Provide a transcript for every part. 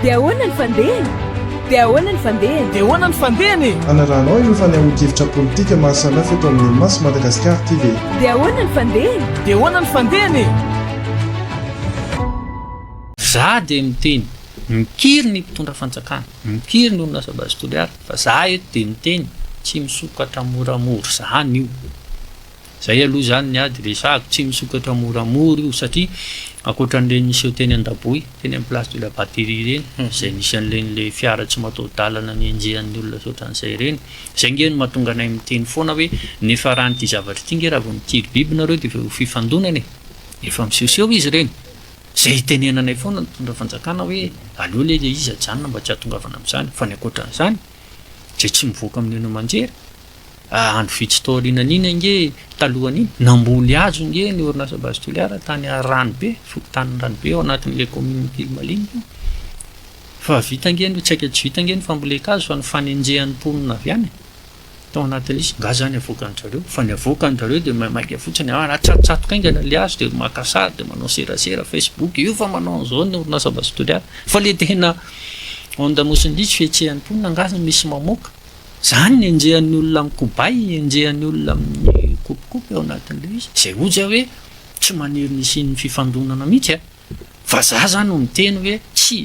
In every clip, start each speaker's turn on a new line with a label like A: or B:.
A: Dia ahoana ny fandehany? Dia ahoana ny fandehany?
B: Dia ahoana ny fandehany e? Hanarahanao ireo
C: fanehoan-kevitra politika maha samy hafa eto amin'ny Mas Madagascar TV. Dia ahoana ny fandehany? Dia
A: ahoana ny fandehany
B: e?
D: Za dia miteny, mikiry ny mpitondra fanjakana, mikiry ny olona asa base Toliara fa za eto dia miteny, tsy misokatra moramora zany io. Zay aloha zany ny ady resahako, tsy misokatra moramora io satria akoatran'ireny niseho teny Andaboy, teny amin'ny place de la batterie ireny, izay nisy an'ireny le fiara tsy mataho-dalana nenjehan'ny olona sy ohatran'izay ireny, zay nge no mahatonga anay miteny foana hoe nefa raha an'ity zavatra ity nge raha vao mitiry biby nareo de ho fifandonana e! Efa misehoseho izy ireny! Zay itenenanay foana ny mpitondra fanjakana hoe aleo le le izy ajanona mba tsy ahatongavana amin'izany fa ny akoatran'izany zay tsy mivoaka amin'ny haino aman-jery Andro vitsy taorianan'iny ange, talohan'iny, namboly hazo ange ny orinasa Base Toliara tany Ranobe, fokontanin'i Ranobe ao anatin'ilay kaominina Ankilimaliana io. Fa vita ange ny, tsy haiko tsy vita ange ny fambolen-kazo fa ny fanenjehan'ny mponina avy any tao anatin'izy. Nga zany avoakan-dry zareo? Fa ny avoakan-dry zareo dia maimaika fotsiny, ah, atsatotsatoka haingana ilay hazo dia maka sary dia manao serasera facebook, io fa manao an'izao ny orinasa Base Toliara. Fa ilay tena ondamosin'ny diso, fihetsehan'ny mponina, nga misy mamoaka? Izany ny enjehan'ny olona amin'ny kobay, enjehan'ny olona amin'ny kopikopy ao anatin'ilay izy. Izay hoy zay hoe tsy maniry ny hisian'ny fifandonana mihitsy a! Vazaha zany no miteny hoe tsy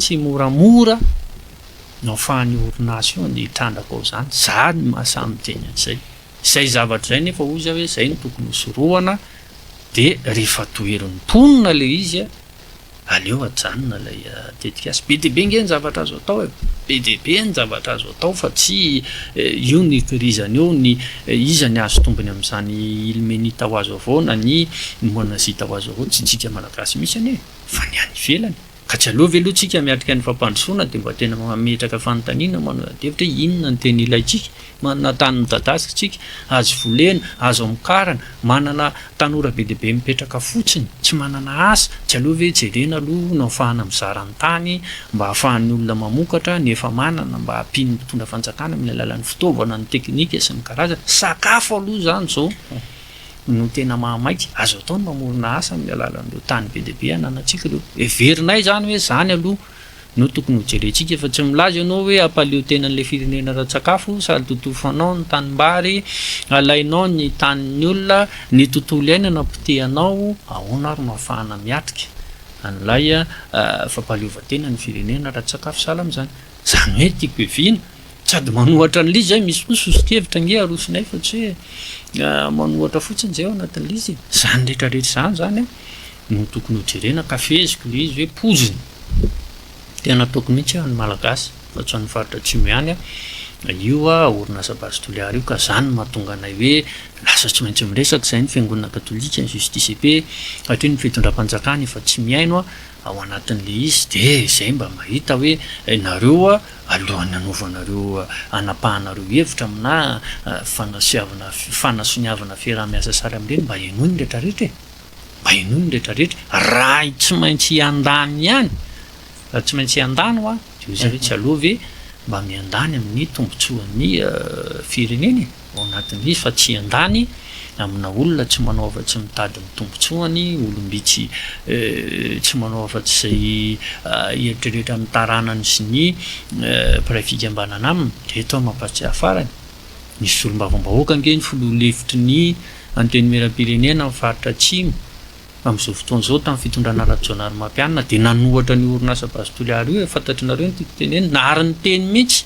D: tsy moramora no ahafahan'io orinasa io ny hitrandraka ao izany. Za ny maha samy miteny an'izay. Izay zavatra izay nefa hoy zay hoe izay no tokony hosorohana dia rehefa toherin'ny mponina ilay izy a! Aleo ajanona ilay tetikasa. Be dia be ange ny zavatra azo atao e! Be dia be ny zavatra azo atao fa tsy io no ikirizana eo ny iza ny hahazo tombony amin'izany ilmenita ho azo avao na ny monazita ho azo avao, tsy tsika malagasy mihitsy anie fa ny any ivelany. Ka tsy aleo ve aloha tsika miatrika ny fampandrosoana dia mba tena mametraka fanontaniana manodadevitra hoe inona no tena ilaintsika Manana tany midadazatsika, azo volena, azo amokarana, manana tanora be dia be mipetraka fotsiny, tsy manana asa, tsy aleo ve jerena aloha no afahana mizara ny tany mba ahafahan'ny olona mamokatra ny efa manana mba hampian'ny mpitondra fanjakana amin'ny alalan'ny fitaovana, ny teknika sy ny karazany. Sakafo aloha izany izao no tena mahamaika, azo atao ny mamorona asa amin'ny alalan'ireo tany be dia be ananantsika ireo. Heverinay izany hoe izany aloha No tokony ho jerentsika fa tsy milaza ianao hoe hampaleo tena an'ilay firenena ara-tsakafo, sady totofanao ny tanimbary, alainao ny tanin'ny olona, ny tontolo iainana potehanao, ahoana ary no hahafahana miatrika an'ilay fampahaleovantena ny firenena ara-tsakafo sahala amin'izany? Izany hoe tiako heviana sady manohatra an'ilay izy izay, misy koa soso-kevitra ange arosonay fa tsy hoe manohatra fotsiny izay ao anatin'ilay izy e! Izany rehetrarehetra izany izany an! no tokony ho jerena ka feheziko ilay izy hoe poizina. Tena ataoko mihitsy aho ny Malagasy fa tsy an'ny faritra Atsimo ihany an, io orinasa Base Toliara io ka izany no mahatonga anay hoe lasa tsy maintsy miresaka izahay ny Fiangonana Katolika, ny JSTCP hatreto ny Fitondram-panjakana efa tsy mihaino ao anatin'ilay izy dia izay mba mahita hoe ianareo alohan'ny hanaovanareo hanapahanareo hevitra aminà fanasiavana fanasoniavana fiaraha-miasa sahala amin'ireny mba henoy ny rehetra rehetra e! Baino ny rehetra rehetra raha tsy maintsy hiandany ihany raha tsy maintsy hiandany hoa dia hoy zareo tsy aleo ve mba miandany amin'ny tombotsoan'ny firenena e ao anatin'ilay izy fa tsy hiandany amina olona tsy manao afa tsy mitady ny tombotsoany olom-bitsy tsy manao afa tsy izay hieritreritra ny taranany sy ny mpiray fikambanana aminy dia eto aho mampahatsiahy farany nisy solombavambahoaka ange ny filoha lefitry ny Antenimierampirenena amin'ny faritra Atsimo amin'izao fotoana izao tamin'ny fitondrana Rajaonarimampianina dia nanohatra an'io orinasa Base Toliara io e, fantatr'nareo ny tiako tenenina, nahary niteny mihitsy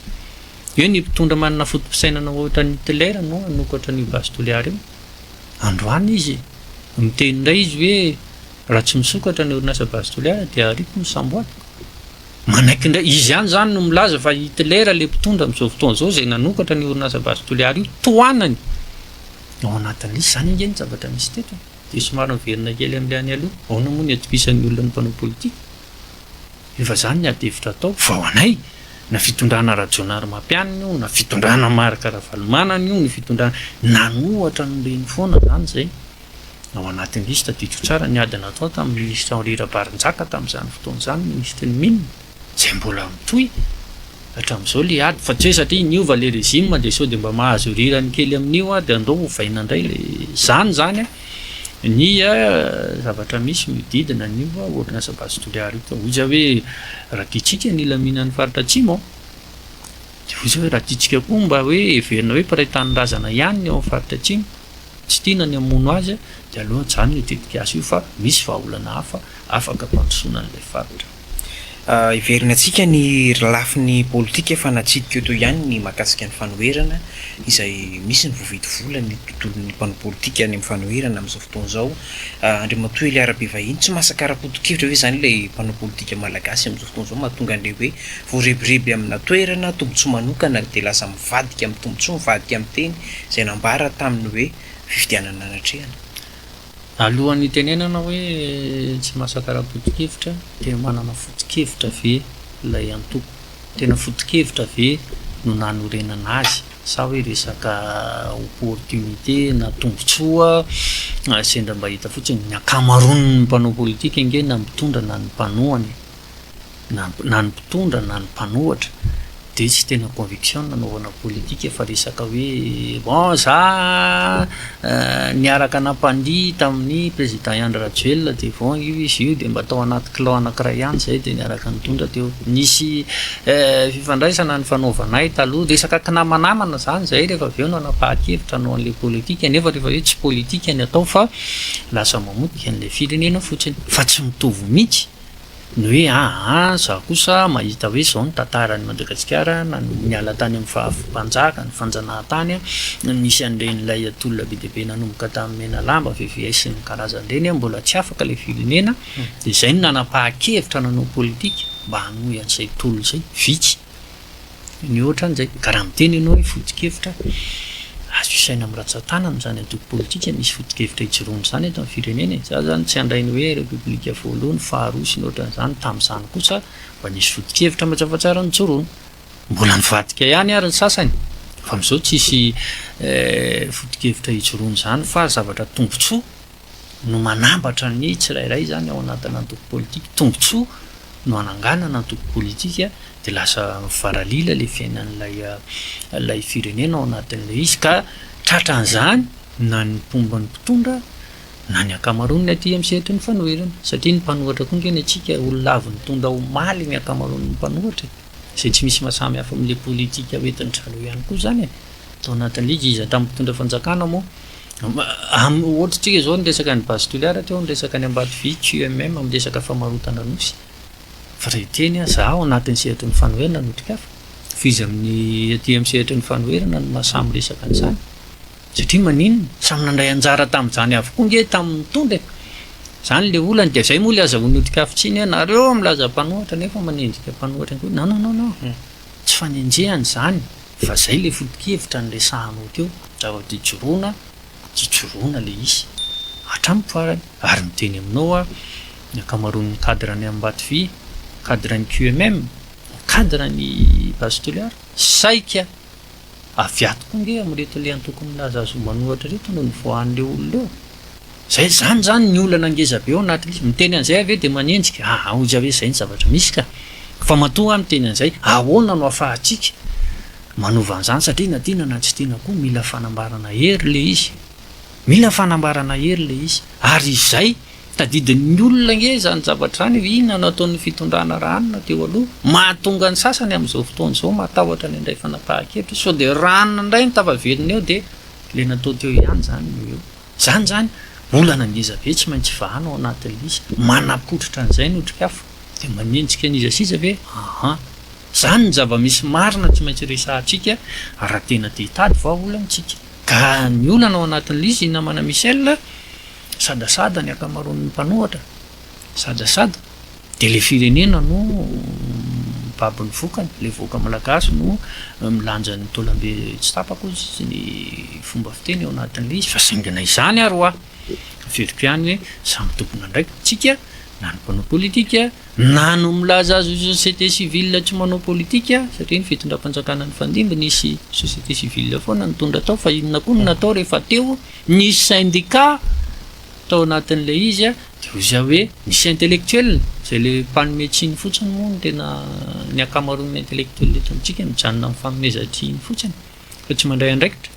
D: hoe ny mpitondra manana foto-pisainana ohatran'i Hitler no hanokatra an'io Base Toliara io. Androany izy miteny indray izy hoe raha tsy misokatra ny orinasa Base Toliara dia ariako ny samboadiko. Manaiky indray, izy ihany izany no milaza fa Hitler ilay mpitondra amin'izao fotoana izao izay nanokatra ny orinasa Base Toliara io, tohanany. Ao anatin'ilay izy izany ange ny zavatra misy teto e! Dia somary miverina kely amin'ilay any aloha, ahoana moa ny atokisan'ny olona ny mpanao politika? Efa izany ny ady hevitra atao, fa ho anay, na fitondrana Rajaonarimampianina io, na fitondrana Marc Ravalomanana io, ny fitondrana nanohatra an'i Nirina foana izany izay. Ao anatin'ilay izy, tadidiko tsara ny ady natao tamin'ny Minisitra Henri Rabarinjaka tamin'izany fotoana izany, Minisitry ny Mines. Zay mbola mitohy hatramizao le ady fa tsy hoe satria niova le régime de sao de mba mahazo rirany kely aminio ady andao ovaina ndray le zany zany ny zavatra misy miodidina anio orinasa base toliara io ka hoy za hoe raha tiantsika ny hilaminany faritra atsimo de hoy za hoe raha tiantsika koa mba hoe heverina hoe mpiray tanindrazana ihany ny ao am faritra atsimo tsy tiana ny hamono azy de aleo ajanony io tetikasa io fa misy vahaolana hafa afaka ampandrosoana an'ilay faritra. Heverina
E: antsika ny lafiny politika fa natsidika eto ihany ny mahakasika ny fanoherana izay misy ny voavidy vola ny tontolon'ny mpanao politika any amin'ny fanoherana amin'izao fotoana izao. Andriamatoa Elia Rabevahiny, tsy masaka ara-potokevitra ve izany ilay mpanao politika malagasy amin'izao fotoana izao mahatonga an'ilay hoe voarebireby amina toerana, tombontsoa manokana dia lasa mivadika amin'ny tombontsoa, mivadika amin'ny teny izay nambara tamin'ny hoe fifidianana natrehana? Alohan'ny
D: hitenenana hoe tsy masaka ara-potokevitra dia manana fotokevitra ve ilay antoko? Tena fotokevitra ve no nanorenana azy sa hoe resaka opportunité na tombotsoa sendra mba hita fotsiny? Ny ankamaroan'ny mpanao politika ange na mitondra na ny mpanohana e! na na ny mpitondra na ny mpanohatra dia tsy tena conviction no nanaovana politika fa resaka hoe bon za niaraka nampandihy tamin'ny président i Andry Rajoelina dia bon io izy io dia mba tao anaty clan anankiray ihany zay dia niaraka nitondra teo nisy fifandraisana nifanaovanay taloha resaka kinamanamana zany zay rehefa avy eo nanapahan-kevitra hanao an'ilay politika nefa rehefa hoe tsy politika ny atao fa lasa mamotika an'ilay firenena fotsiny fa tsy mitovy mihitsy ny hoe aa za kosa mahita hoe zao ny tantaran'i Madagasikara na niala tany amin'ny faha mpanjaka ny fanjanahantany no nisy an'ireny ilay tolona be dia be nanomboka tamin'ny Menalamba, VVS sy ny karazany ireny mbola tsy afaka ilay firenena dia izay no nanam-pahan-kevitra nanao politika mba hanohy an'izay tolona izay, vitsy. Ny ohatra izay, ka raha miteny ianao hoe foto-kevitra, azo isaina amin'ny ratsan-tanana izany antoko politika misy foto-kevitra hijoroany izany eto amin'ny firenena e! Za izany tsy handray ny hoe repoblika voalohany, faharoa sy ny ohatran'izany, tamin'izany kosa mba nisy foto-kevitra mazava tsara nijoroana. Mbola nivadika ihany ary ny sasany fa amin'izao tsisy foto-kevitra hijoroana izany fa zavatra tombotsoa no manambatra ny tsirairay izany ao anatin'ny antoko politika. Tombontsoa no ananganana antoko politika dia lasa mivaralila ilay fiainan'ilay ilay firenena ao anatin'ilay izy ka tratran'izany na ny mpomba ny mpitondra na ny ankamaroan'ny aty amin'ny sehatry ny fanoherana. Satria ny mpanohatra koa ange ny antsika olona avy nitondra omaly ny ankamaroan'ny mpanohatra e! izay tsy misy mahasamy hafa amin'ilay politika hoentin'i Jalo ihany koa izany e! Tao anatin'ilay izy, iza tamin'ny mpitondra fanjakana moa Amin'ny ohatr'tsika izao ny resaka an'i Base Toliara teo ny resaka any Ambatovy, QMM, amin'ny resaka famarotana nosy. Fa raha hiteny aho, za ao anatin'ny sehatry ny fanoherana no tikafa, fa iza amin'ny aty amin'ny sehatry ny fanoherana no mahasahy miresaka an'izany? Satria maninona? Samy nandray anjara tamin'izany avokoa ange tamin'ny nitondra e! Izany ilay olana dia izay moa ilay azahoany ho tikafintsiny hoe nareo milaza mpanohatra nefa manenjika mpanohatra ihany koa. Non, non, non, non. Tsy fanenjehana izany. Fa zay le foto-kevitra niresahanao teo, zava tijoroana tijoroana le izy hatramin'ny farany, ary miteny aminao aho ny ankamaroan'ny cadre any Ambatovy, cadre ny QMM, cadre ny base Toliara, saika avy ato koa nge amin'ireto le antoko milaza azy ho manohatra ireto no nivoahan'ireo olona eo. Zay izany izany ny olana ngeza be ao anatin'io. Miteny an'izay aho ve dia manenjika? Aa oja ve izay ny zavatra misy ka. Fa matoa aho miteny an'izay, ahoana no afahantsika manova an'izany satria na tiana na tsy tiana koa mila fanambarana hery ilay izy. Mila fanambarana hery ilay izy. Ary izay tadidin'ny olona ange izany zavatra izany hoe inona no ataon'ny fitondrana raha anona teo aloha. Mahatonga ny sasany amin'izao fotoana izao matahotra ny handray fanapahan-kevitra. Sao dia ràna indray ny tafaveriny eo dia ilay natao teo ihany izany no eo. Izany izany, olana ngezabe tsy maintsy vahana ao anatin'ny lisy. Manapotritra an'izay ny otrikafo, dia manenjika an'iza sy iza ve? Aa! Izany ny zava-misy marina tsy maintsy resahantsika raha tena te hitady vahaolana isika. Ka ny olana ao anatin'ny lisy, i Namana Michel, sadasada ny ankamaroan'ny mpanohatra, Sadasada dia ilay firenena no mibaby ny vokany, ilay vahoaka malagasy no milanja ny taolambe tsy tapaka hozy sy ny fomba fiteny ao anatin'ilay izy fa saingy na izany ary hoa averiko ihany hoe samy tompon'andraikitsika na ny mpanao politika na no milaza azy société civile tsy manao politika satria ny fitondram-panjakana nifandimby nisy société civile foana nitondra tao fa inona koa no natao rehefa teo nisy syndicat Tao anatin'ilay izy dia hoy izaho hoe misy intellectuel, izay ilay mpanome tsiny fotsiny moa no tena, ny ankamaroan'ny intellectuel eto amintsika mijanona amin'ny fanomezan-tsiny fotsiny fa tsy mandray andraikitra.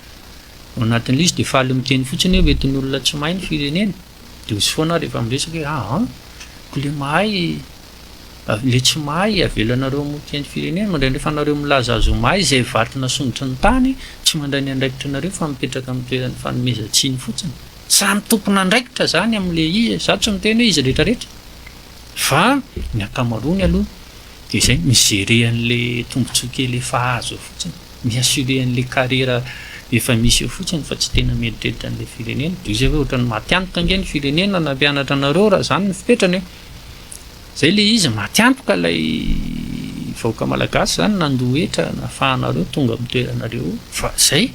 D: Ao anatin'ilay izy dia faly miteny fotsiny hoe hoentin'olona tsy mahay ny firenena. Dia hoy foana aho rehefa miresaka hoe ah an, koa ilay mahay, ilay tsy mahay avelanareo hamorika ny firenena, indraindray efa nareo milaza azy ho mahay izay vato nasondrotry ny tany, tsy mandray ny andraikitry nareo fa mipetraka amin'ny toeran'ny fanomezan-tsiny fotsiny. Samy tompon'andraikitra izany amin'ilay izy e, izaho tsy miteny hoe izy rehetra rehetra fa ny ankamaroany aloha dia izay, mi-gérer an'ilay tombontsoa kely efa azo eo fotsiny, mi-assurer an'ilay carrière efa misy eo fotsiny fa tsy tena mieritreritra an'ilay firenena, toy izay hoe ohatran'ny maty antoka ange ny firenena no hampianatra anareo raha izany no fepetrany e! izay ilay izy, maty antoka ilay vahoaka malagasy izany nandoa hetra nahafahanareo tonga amin'ny toeranareo eo fa izay.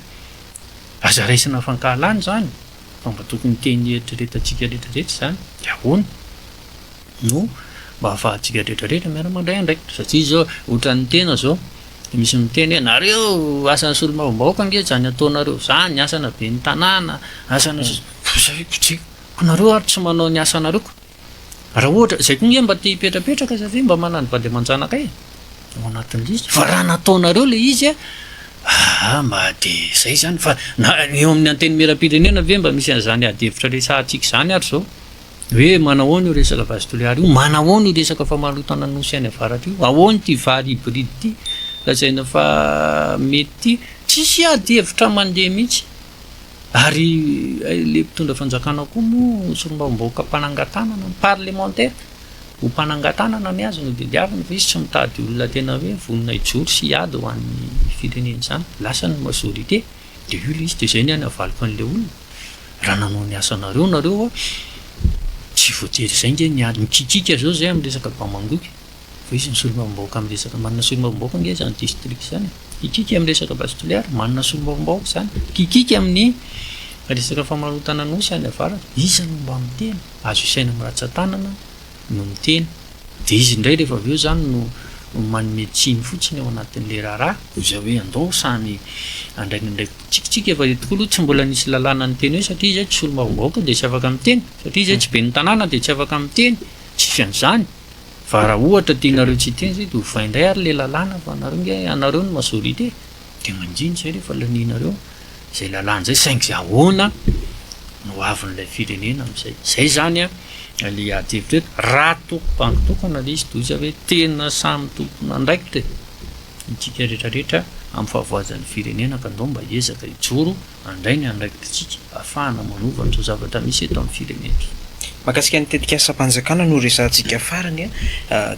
D: Aza raisina fankahalana izany fa mba tokony hiteny hieritreretantsika rehetra rehetra izany dia ahoana no mba hahafahantsika rehetra rehetra miara mandray andraikitra satria izao ohatran'ny tena izao dia misy miteny hoe nareo asan'ny solombavambahoaka ange izany ataonareo izany asana ben'ny tanàna asana sisa koa nareo ary tsy manao ny asanareo koa Raha ohatra, izay koa nge mba te hipetrapetraka za ve mba manany vady aman-janaka e? ao anatin'ny lisitra fa raha nataonareo le izy a aa mba de zay zany fa na eo amin'ny antenimieram-pirenena ve mba misy an'izany ady hevitra resahantsika izany ary zao hoe manao ahoana io resaka vazy toliary io manao ahoana io resaka famarotana ny nosy any avaratra io ahoana ity vary hybride ity lazaina fa mety ity tsisy ady hevitra mandeha mihitsy Ary ilay mpitondra fanjakana koa moa solombavambahoaka mpanangan-tanana ny parlemantera ho mpanangan-tanana ny azy no tadiaviny fa izy tsy mitady olona tena hoe vonona hijoro sy hiady ho an'ny firenena izany. Lasa ny majorité dia io ilay izy dia izay ny ahy ny havaliko an'ilay olona raha nanao ny asanareo nareo tsy voatery izay nge ny ady mikikika izao izay amin'ny resaka bamangoky. Fa izy ny solombavambahoaka amin'ny resaka manana solombavambahoaka ange izany district izany e. Hikiky amin'ny resaka base toliara, manana solombavambahoaka izany. Hikiky amin'ny resaka famarotana nosy any avaratra, iza no mba miteny? Azo isaina amin'ny ratsan-tanana no miteny. Dia izy indray rehefa avy eo izany no manome tsiny fotsiny ao anatin'ilay raharaha. Izay hoe andao samy handray ny andraikiny. Tsikitsiky efa eo tokoa aloha tsy mbola nisy lalàna niteny hoe satria izay tsy solombavambahoaka dia tsy afaka miteny, satria izay tsy ben'ny tanàna dia tsy afaka miteny, tsisy an'izany. Fa raha ohatra tianareo tsy hiteny izay dia ovay indray ary ilay lalàna fa anareo ange anareo no majorité dia mangina izay rehefa lanianareo izay lalàna izay saingy izay ahoana no hoavin'ilay firenena amin'izay. Izay izany ilay adihevitra eto. Raha toa bango tokana ilay izy toy izay hoe tena samy tompon'andraikitra e, isika rehetra rehetra amin'ny fahavoazan'ny firenena ka andao mba hiezaka hijoro. Handray ny andraikititsika ahafahana manova an'izao zavatra misy eto amin'ny firenena. Mahakasika ny
E: tetikasam-panjakana no resahantsika farany.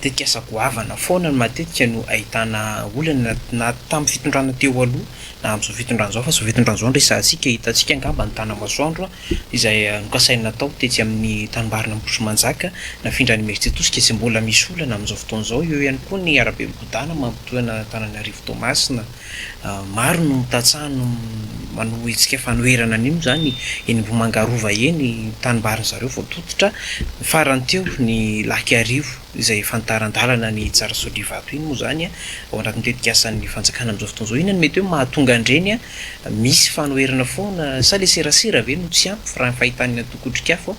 E: Tetikasa goavana foana no matetika no ahitana olana na tamin'ny fitondrana teo aloha na amin'izao fitondrana izao fa izao fitondrana izao no resahantsika. Hitantsika angamba ny tanamasoandro izay nokasaina natao tetsy amin'ny tanimbarina Ambohitrimanjaka nafindra any Imerintsiatosika izay mbola misy olana amin'izao fotoana izao. Eo ihany koa ny arabe migodàna mampitohy an'Antananarivo Toamasina. Maro no tantsaha no manao hetsika fanoherana an'io izany eny Ambohimangarova eny, tanimbary zareo vao tototra, farany teo ny Lahikarivo izay efa nitaran-dalana ny hitsara Sotrivato iny moa izany ao anatin'ny tetikasan'ny fanjakana amin'izao fotoana izao, inona no mety hoe mahatonga an'ireny misy fanoherana foana sa ilay serasera ve no tsy ampy raha ny fahitan'ny antoko Otrikafo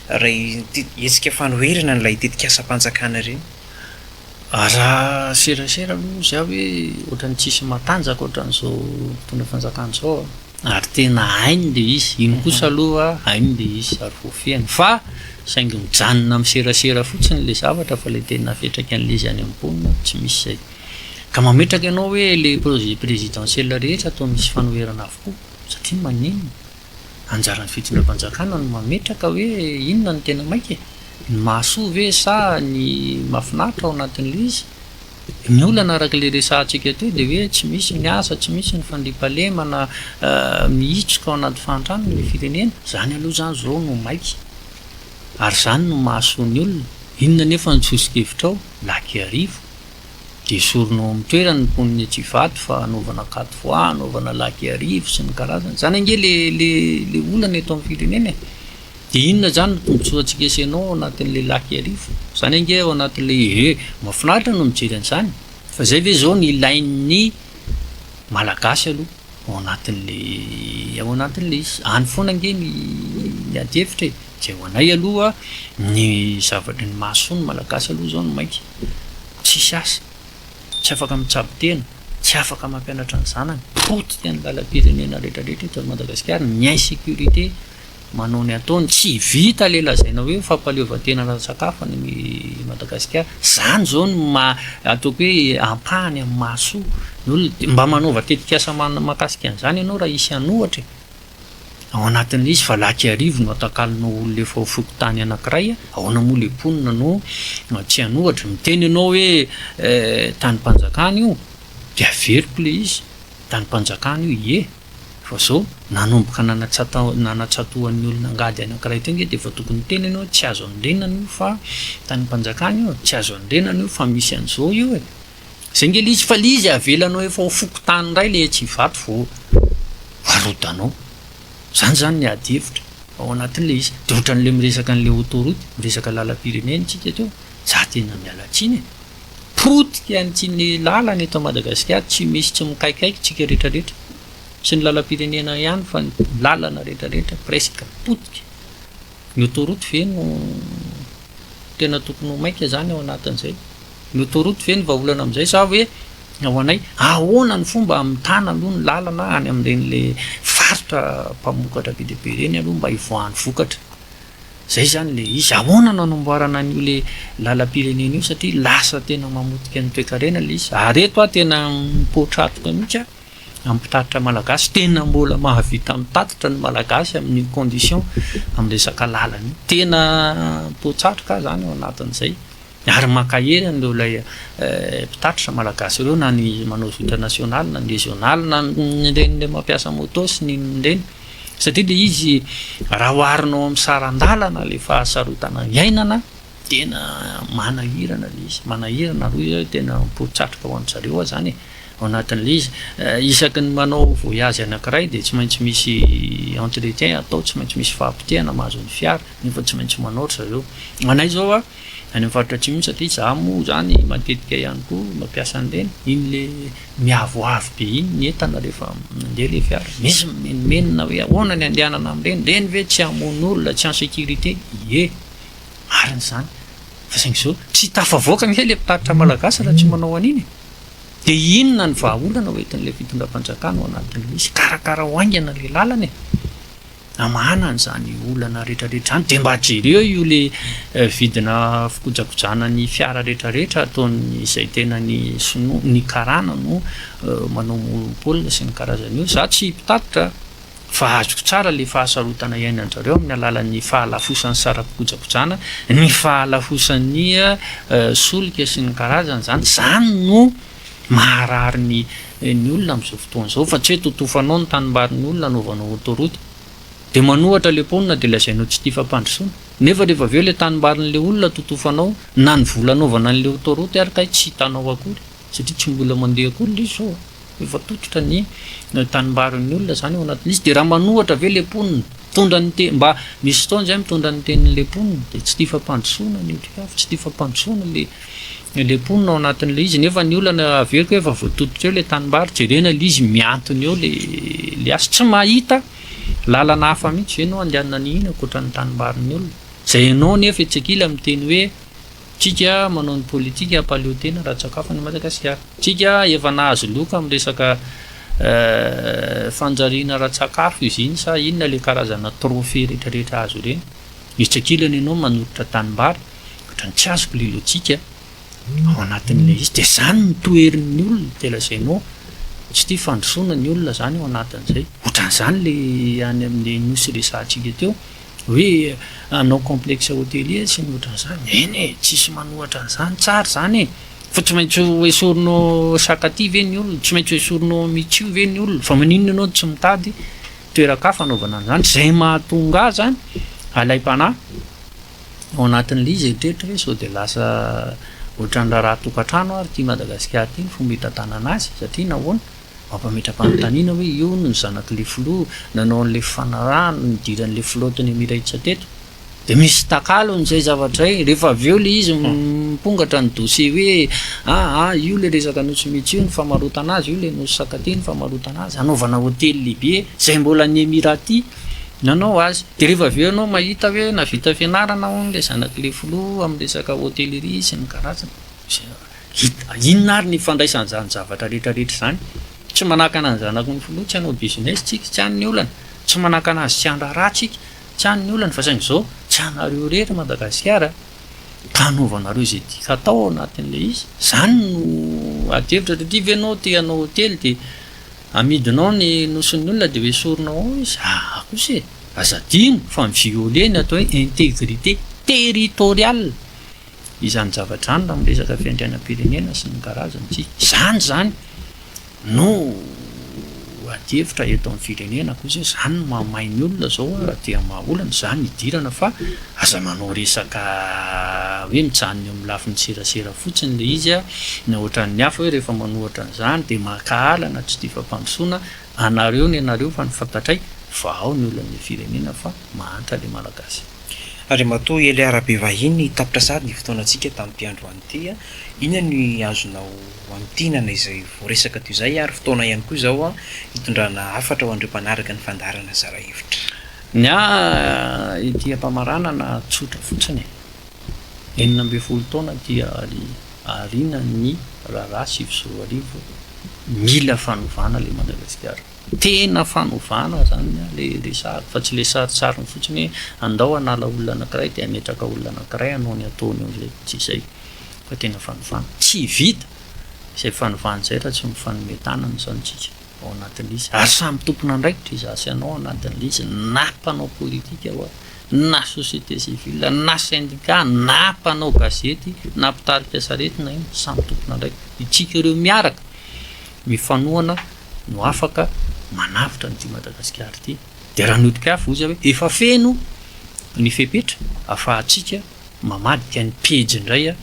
E: raha ity hetsika fanoherana an'ilay tetikasam-panjakana ireny? Raha
D: serasera aloha izy aho hoe ohatran'ny tsisy matanjaka ohatran'izao mpitondra fanjakana izao an! ary tena hainy ilay izy, iny kosa aloha hainy ilay izy ary voafehiny fa saingy mijanona amin'ny serasera fotsiny ilay zavatra fa ilay tena fetraky an'ilay izy any amin'ny mponina tsy misy izay ka mametraka ianao hoe ilay projet présidentiel rehetra toa misy fanoherana avokoa satria maninona? Anjaran'ny fitondram-panjakana no mametraka hoe inona no tena maika e! Ny mahasoa ve sa ny mahafinaritra ao anatin'ilay izy? Ny olana araka ilay resahantsika teo dia hoe tsy misy ny asa, tsy misy ny fandriampahalemana mihitroka ao anaty fahantrana ilay firenena. Izany aloha izany izao no maika ary izany no mahasoa ny olona. Inona anefa ny soso-kevitrao? Lakiarivo. dia esorina ao amin'ny toerany ny mponin'i Etsivato fa hanaovana quatre voies, hanaovana lac Iarivo sy ny karazany. Izany ange ilay olana eto amin'ny firenena e! Dia inona izany no tombontsoantsika sy ianao ao anatin'ilay lac Iarivo? Izany ange ao anatin'ilay ehe! Mahafinaritra no mijery an'izany. Fa izay ve izao no ilain'ny Malagasy aloha ao anatin'ilay ao anatin'ilay izy? Any foana ange ny adihevitra e! Izay ho anay aloha ny zavatra ny mahasoa ny malagasy aloha izao ny maika. Tsisy asa, tsy afaka mitsabo tena, tsy afaka mampianatra ny zanany, potika ny lalam-pirenena retraretra eto Madagasikara, ny insécurité manao ny ataony, tsy vita ilay lazaina hoe fampahaleovantena ara-tsakafo any Madagasikara. Izany izao no maha ataoko hoe ampahany amin'ny mahasoa ny olona. Mba manaova tetikasa mahakasika an'izany ianao raha hisy hanohatra e! Ao anatin'ilay izy fa laky arivo no atakalonao olona efa ao fokontany anankiray, ahoana moa ilay mponina no tsy hanohatra? Miteny ianao hoe tanim-panjakana io dia averiko ilay izy, tanim-panjakana io ie, fa izao nanomboka nanatsatohan'ny olona angady anankiray teo nge dia efa tokony hiteny ianao hoe tsy azo andrenana io fa tanim-panjakana io, tsy azo andrenana io fa misy an'izao io e! Saingy ilay izy fa ilay izy avelanao efa ho fokontany indray ilay etsy Ivato vao arodanao. Izany izany ny ady hevitra ao anatin'ilay izy. Dia ohatran'ilay miresaka an'ilay autoroute, miresaka lalam-pirenena isika teo. Izaho tena miala tsiny e! Potika an'ity ny lalana eto Madagasikara, tsy misy tsy mikaikaika isika rehetrarehetra. Tsy ny lalam-pirenena ihany fa ny lalana rehetrarehetra presque potika. Ny autoroute ve no tena tokony ho maika izany ao anatin'izay? Notoroto ve ny vahaolana amin'izay sa hoe ho anay? Ahoana ny fomba hamitana aloha ny lalana any amin'ireny le faritra mpamokatra be dia be ireny aloha mba hivoahan'ny vokatra? Izay izany ilay izy. Ahoana no hanamboarana an'io le lalam-pirenena io satria lasa tena mamotika ny toekarena ilay izy. Ary eto aho tena mipoa-tratoka mihitsy aho amin'ny mpitatitra malagasy. Tena mbola mahavita mitatitra ny malagasy amin'io condition amin'ny resaka lalana io. Tena mipoa-tsatroka aho izany ao anatin'izay. Ary mankahery an'ireo ilay mpitatitra malagasy ireo na ny manao zotra nationale na ny régionale na ny reny ilay mampiasa moto sy ny reny satria ilay izy raha oharinao amin'ny saran-dalana ilay fahasarotana iainana tena manahirana ilay izy manahirana aloha izy tena poritsatroka ho an-dry aza zany ao anatin'ilay izy eh, isaky ny manao voyage anankiray dia tsy maintsy misy entretien atao tsy maintsy misy fahapotehana mahazo ny fiara nefa tsy maintsy manao ry zareo anay zao a any amin'ny faritra atsimo iny satria za moa zany matetika ihany koa mampiasa an'ireny, iny le miavoavo be iny ny entana rehefa mandeha le fiara, misy mimenomenona hoe ahoana ny andehanana amin'ireny, ireny ve tsy hamono olona, tsy en sécurité, ie, marina izany, fa saingy zao tsy tafavoaka ange le mpitaritra malagasy raha tsy manao an'iny e, de inona ny vahaolana hoentin'ilay fitondram-panjakana ao anatin'ilay izy, karakarao haingana le lalana e. Na manana izany olana retraretra izany dia mba jereo io le vidina fikojakojana ny fiara retraretra ataon'ny izay tena ny sinoa ny karana no manao monopole sy ny karazany io za tsy mpitatitra fa azoko tsara le fahasarotana iainanjareo amin'ny alalan'ny fahalafosan'ny sarapikojakojana ny fahalafosan'ny solika sy ny karazany zany zany no Maharary ny ny olona amin'izao fotoana izao fa tsy hoe totofanao ny tanimbarin'ny olona anaovanao autoroute dia manohatra ilay mponina dia lazainao tsy tia fampandrosoana nefa rehefa avy eo ilay tanimbarin'ilay olona totofanao na ny vola anaovana an'ilay autoroute ary kay tsy hitanao akory satria tsy mbola mandeha akory ilay izy izao an! efa tototra ny tanimbarin'ny olona izany ao anatin'ilay izy dia raha manohatra ve ilay mponina mitondra ny teny mba misy fotoana izay mitondra ny tenin'ilay mponina dia tsy tia fampandrosoana ny otrikafo tsy tia fampandrosoana ilay Ilay mponina ao anatin'ilay izy, nefa ny olana averiko efa voatodika eo ilay tanimbary, jerena ilay izy mihantona eo ilay azy, tsy mahita lalana hafa mihitsy ve no handehanana an'iny ankoatra ny tanimbarin'ny olona? Izay ianao nefa etsy ankilany miteny hoe tsika manao ny politika hampaleo tena ara-tsakafo an'i Madagasikara, tsika efa nahazo loka amin'ny resaka fanjariana ara-tsakafo izy iny sa inona ilay karazana trophée retraretra azo ireny, etsy ankilany ianao manoritra tanimbary, Ohatra ny tsy azoko ilay lojika ao anatin'ilay izy dia izany no toherin'ny olona dia lazainao tsy tia fandrosoana ny olona izany ao anatin'izay. Ohatran'izany ilay any amin'ny nosy resahantsika teo hoe hanao complexe hotelier sy ny ohatran'izany. Eny e, tsisy manohatra an'izany, tsara izany e! Fa tsy maintsy ho esorinao saka aty ve ny olona, tsy maintsy ho esorinao mitsio ve ny olona, fa maninona ianao tsy mitady toeran-kafa hanaovana an'izany? Izay mahatonga ahy izany alaim-panahy ao anatin'ilay izy eritreritra hoe sao dia lasa ohatran'ny raharaha tokantrano ary ity Madagasikara ity ny fomba hitantanana azy satria nahoana mampametra-panontaniana hoe io no zanak'ilay filoha nanao an'ilay fanarahana nidiran'ilay filoha teny Emiratsa teto dia misy takalony izay zavatra izay rehefa avy eo ilay izy mipongatra ny dossier hoe aa ah, ah, io ilay resaka nosy mitsy io ny famarotana azy io ilay nosy sakati ny famarotana azy anaovana hotely lehibe izay mbola ny Emirati ny anao azy dia rehefa avy eo ianao mahita hoe navita fianarana hono ilay zanak'ilay filoha amin'ny resaka hôtellerie sy ny karazany dia inona ary ny ifandraisany izany zavatra rehetra rehetra izany tsy manakana ny zanaky ny filoha tsy hanao business tsika tsy any ny olana tsy manakana azy tsy handrara tsika tsy any ny olana fa saingy izao tsy anareo irery i Madagasikara ka anaovanareo izay tiaka atao ao anatin'ilay izy izany no adihevitra satria ve ianao te hanao hotely dia Amidinao ny nosin'ny olona dia hoesorinao ao izy, aa kosa e! Aza adino fa mi-violer ny atao hoe integrite territoriale izany zavatra izany raha miresaka fiandrianam-pirenena sy ny karazany tsy izany izany no adihevitra eto amin'ny firenena kosa izany no mahamay ny olona izao raha te hamaha olana izany hidirana fa Aza manao resaka hoe mijanona eo amin'ny lafiny serasera fotsiny ilay izy na ohatran'ny hafa hoe rehefa manao ohatran'izany dia mankahala na tsy tia fampandrosoana anareo ny anareo fa ny fantatray fa ao ny olon'ny le firenena fa mahantra ilay malagasy. Andriamatoa
E: Elia Rabevahiny, tapitra sahady ny fotoanantsika tamin'ity androany ity. Inona ny azonao amintinana izay voaresaka toy izay ary fotoana ihany koa izao hitondrana hafatra ho an'ireo mpanaraka ny fandaharana zara hevitra. Ny
D: ahy ity ampamaranana tsotra fotsiny e! Enina ambin'ny folo taona dia aoriana ny raharaha sivy sy roa arivo, mila fanovana le Madagasikara, tena fanovana zany le resahako fa tsy le sarintsariny fotsiny hoe andao hanala olona anakiray de hametraka olona anakiray hanao ny ataony eo zay, tsy zay fa tena fanovana, tsy vita zay fanovana zay raha tsy mifanome tanana zany tsika. ao anatin'ilay izy, ary samy tompon'andraikitra izaho sy ianao ao anatin'ilay izy, na mpanao politika ho'a, na société civile, na syndicat, na mpanao gazety, na mpitarika sarety na inona, samy tompon'andraikitra. Isika ireo miaraka, mifanohana no afaka manavotra an'ity Madagasikara ity. Dia raha nodika ahy foza hoe efa feno ny fepetra afahantsika mamadika ny pejy indray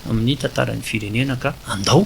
D: amin'ny tantaran'ny firenena ka andao.